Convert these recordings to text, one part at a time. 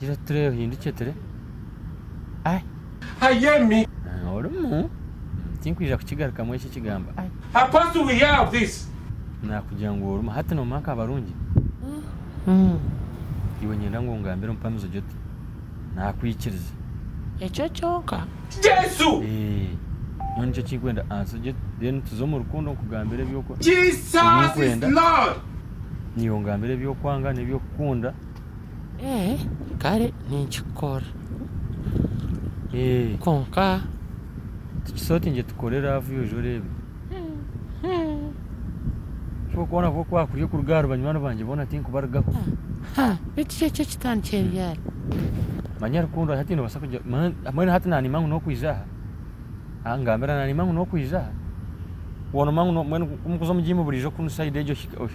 Gira oti turebe ohindukye ture ai. Hayemi. Orimu? Tinkwija kukigarukamu ekyo ekigambo ai. Her pastor will hear of this. Nakugira ngu orimu. Hati nomanya nka abarungi? Umm. Iwe nyenda ngu ongambire omupamizi ogye oti nakwikiriza. Ekyo kyonka? Jesu. Eeh. Nyowe nikyo kinkwenda answer ogye oti then tuze omu rukundo nkugambire eby'oku. Jesus is Lord. Naiwe ongambire eby'okwanga n'eby'okukunda. Ee kare ninkikora kwonka tikiri oti ngu tukore laavu yoza oreebe. Tikworikubona ngu ku waakuriire kuruga ahari banywani bangye boona tinkubarigaho? Beitu kyo ekyo kitandikire ryari? Manya rukundo hati noobaasa kugira mbwenu hati naaniima ngu n'okwija aha? Angambira naaniima ngu n'okwija aha? Mbwenu ku mukuza omu jiimu buriijo kunu sayidi egyo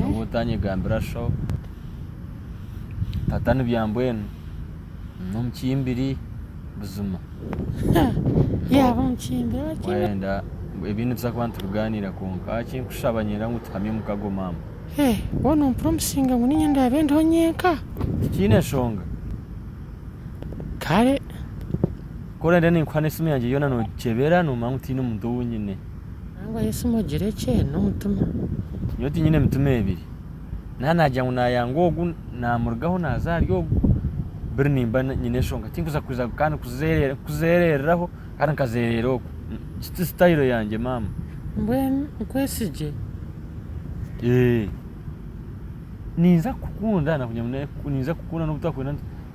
Nyowe otanyegambira sho. Tata nibya mbwenu nomukimbiri buzima. Yaba omukimbiri oki. Wayenda ebi nituza kuba nitubiganira kwonka ahakinkushaba nyenda ngu tuhamye omukago mama. Hee waaba nompire omusinga ngu ninye ndaabe ndiho nyenka. Tikiine nshonga. Kare. Ku orenda ninkuha nesimu yangye yoona nogikyebera nomanya ngu tiine muntu owu nyine. Nangwa Yesu mugire ekye nomutima. Nyowe tinyine emitima ebiri naba nagira ngu nayanga ogu namurugaho naza ahari ogu buri nimba nyine enshonga tinkuza kuza kandi kuzerereraho kandi nkazerera oku egi ti style yangye mama. Mbwenu nkwesigye? Eeh ninza kukukunda nakugira ngu ninza kukukunda nobu twakwenda.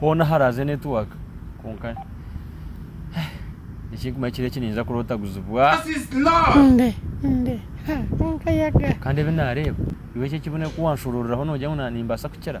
hoona haraaze network kwonka ekinkumanya ekiro eki ninyija kuroota guzibwa kandi ebi nareeba iwe eki ekibunyo ku wanshorooreraho nogira ngu nimbaasa kukira.